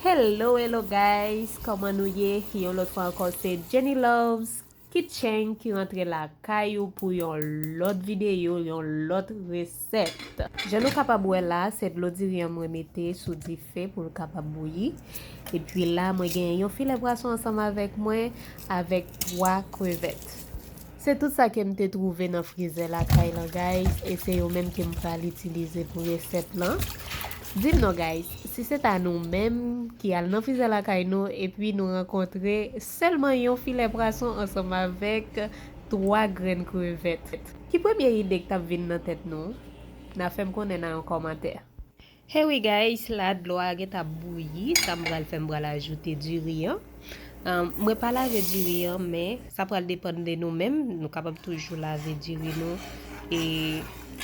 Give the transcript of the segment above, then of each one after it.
Hello hello guys kòman nou ye yon lòt fwa ankò se Jenny Loves kitchen ki rantre lakay ou pou yon lòt videyo yon lòt resèt jan nou kapab wè la se dlo diri an mwen mete sou dife pou l kapab bouyi epi la mwen gen yon filè pwason ansanm avèk mwen avèk 3 krevèt Se tout sa kem te trouve nan frizè lakay lan guys e se yo menm kem pral itilize pou resèt lan. Dim non guys, si se ta nou menm ki al nan frizè lakay nou epi nou rankontre sèlman yon filè pwason ansanm avèk 3 grenn krevèt, ki premye ide k tap vin nan tèt nou? Na fèm konnen nan yon kòmantè. Hey wi guys la dlo a gentan ap bouyi sa m pral fè m pral ajoute diri an mwen pa lave diri an men sa pral depann de nou menm nou kapab toujou lave diri nou e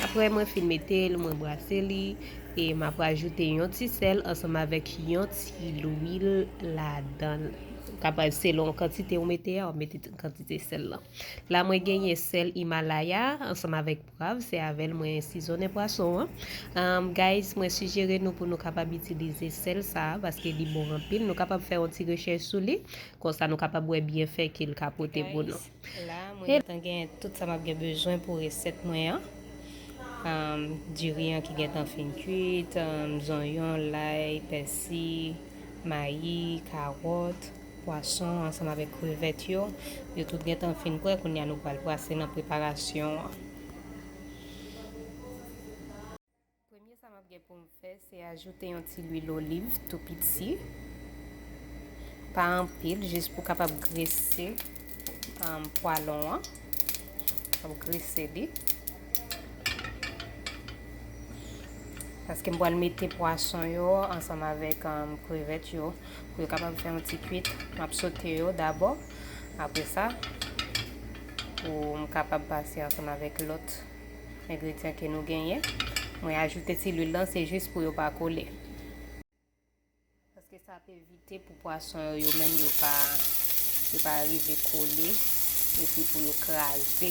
aprè mwen fin mete l mwen brase li e m ap ajoute yon ti sèl ansanm avèk yon ti lwil ladan l kapab selon kantite ou mete a w ap mete kantite sèl lan la mwen genyen sèl Himalaya ansanm avèk Pwav se avèl mwen sizonnen pwason an um guys mwen sijere nou pou nou kapab itilize sèl sa paske li bon anpil nou kapab fè yon ti rechèch sou li konsa nou kapab wè byenfè ke l ka pote pou nou. La mwen gentan gen tout sa map gen bezwen pou resèt mwen an um diri an ki gentan fin kuit um zonyon, lay, pèsi, mayi, karòt. Pwason ansanm avèk krevèt yo, yo tout gentan fin prè kounye a nou pral pase nan preparasyon an. Premye sa map gen poum fè se ajoute yon ti lwil oliv tou piti pa anpil jis pou kapab grese pwalon an. Map grese li. Paske m pral mete pwason yo ansanm avèk krevèt yo. Pou yo kapab fè yon ti kwit. Map sote yo dabò. Apre sa, pou m kapab pase ansanm avèk lòt engredyan ke nou genyen. Mwen ajoute ti lwil lan se jis pou yo pa kole. Paske sa ap evite pou pwason yo yo menm yo pa yo pa rive kole epi pou yo kraze.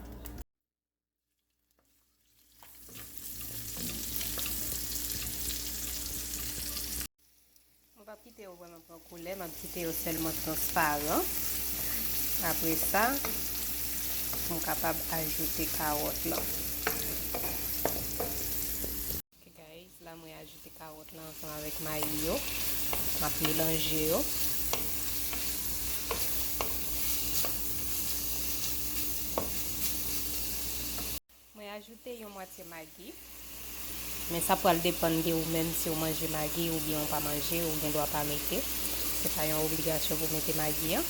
Mwen pap kite yo vreman pran koulè, map kite yo selman transparan. Apre sa, mwen kapab ajoute kawot lan. Ok guys la mwen ajoute kawòt lan ansanm avèk mayi yo map melanje yo mwen ajoute yon mwatye magi men sa pral depann de ou menm si ou manje magi ou byen ou pa manje ou gen dwa pa mete se pa yon obligasyon pou mete magi an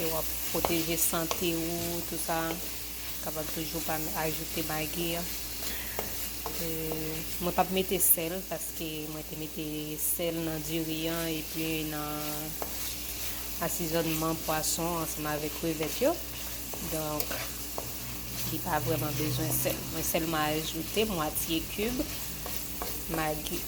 E w ap pwoteje sante ou tout sa. Kapab toujou pa ajoute magi. Mwen pap mete sèl paske mwen te mete sèl nan diri an epi nan asizònman pwason ansanm avèk krevèt yo. Donk li pa vreman bezwen sèl. Mwen sèlman ajoute mwatye kib magi.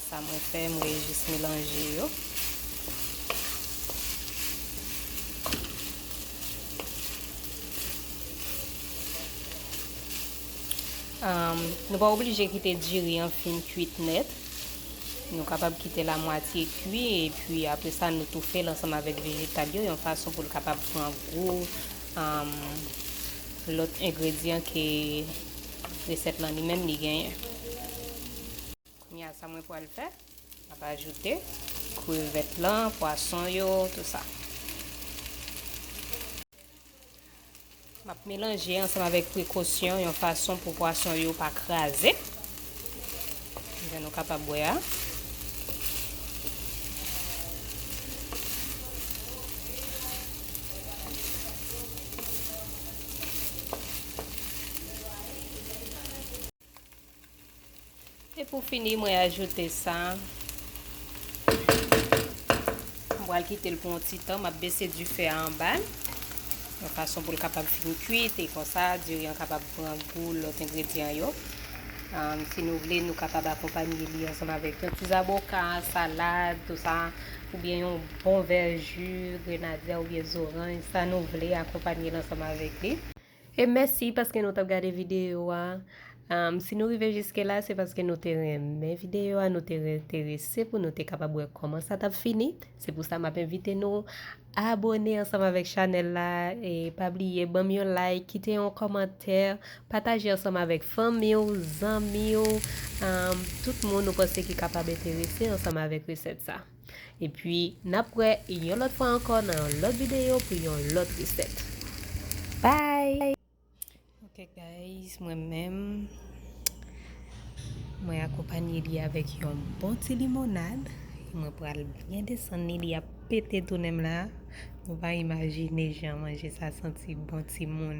Sa mwen fè mwen jis melanje yo. Nou pa oblije kite diri an fin kuit nèt, nou kapab kitel a mwatye kui epi apre sa nou toufel ansanm avèk vejetal yo yon fason poul kapab pran gou lòt engredyan ke resèt lan li menm li genyen. Kounye a sa mwen pwal fè, map ajoute krevèt lan, pwason yo, tout sa. M ap melanje ansanm avèk prekosyon yon fason pou pwason yo pa kraze. Jan nou kapab wè a. E pou fini mwen ajoute sa. Mwen pral kite l pou yon ti tan, map bese dife a anba. Yon fason pou l kapab fin kuit e konsa diri an kapab pran gou lòt engredyan yo. Um, si nou vle, nou kapab akonpanye li ansanm avèk yon ti zaboka, salad, tout sa, oubyen yon bon vè ju, grenadya oubyen zoranj, sa nou vle akonpanye l ansanm avèk li. E mèsi paske nou tap gade videyo a. Si nou rive jiske la se paske nou te renmen videyo a, nou te enterese pou nou te kapab wè kòman sa tap fini. Se pou sa map envite nou abone ansanm avèk chanèl la e pa bliye banm yon like, kite yon kòmantè, pataje ansanm avèk fanmi w, zanmi w, tout moun ou panse ki kapab enterese ansanm avèk resèt sa. Epi nap wè yon lòt fwa ankò nan yon lòt videyo pou yon lòt resèt. Bye! Ok guys mwen menm mwen akonpanye li avèk yon bon ti limonad mwen pral byen desann li li ap pete tounenm la nou pa imajine jan manje sa santi bon timoun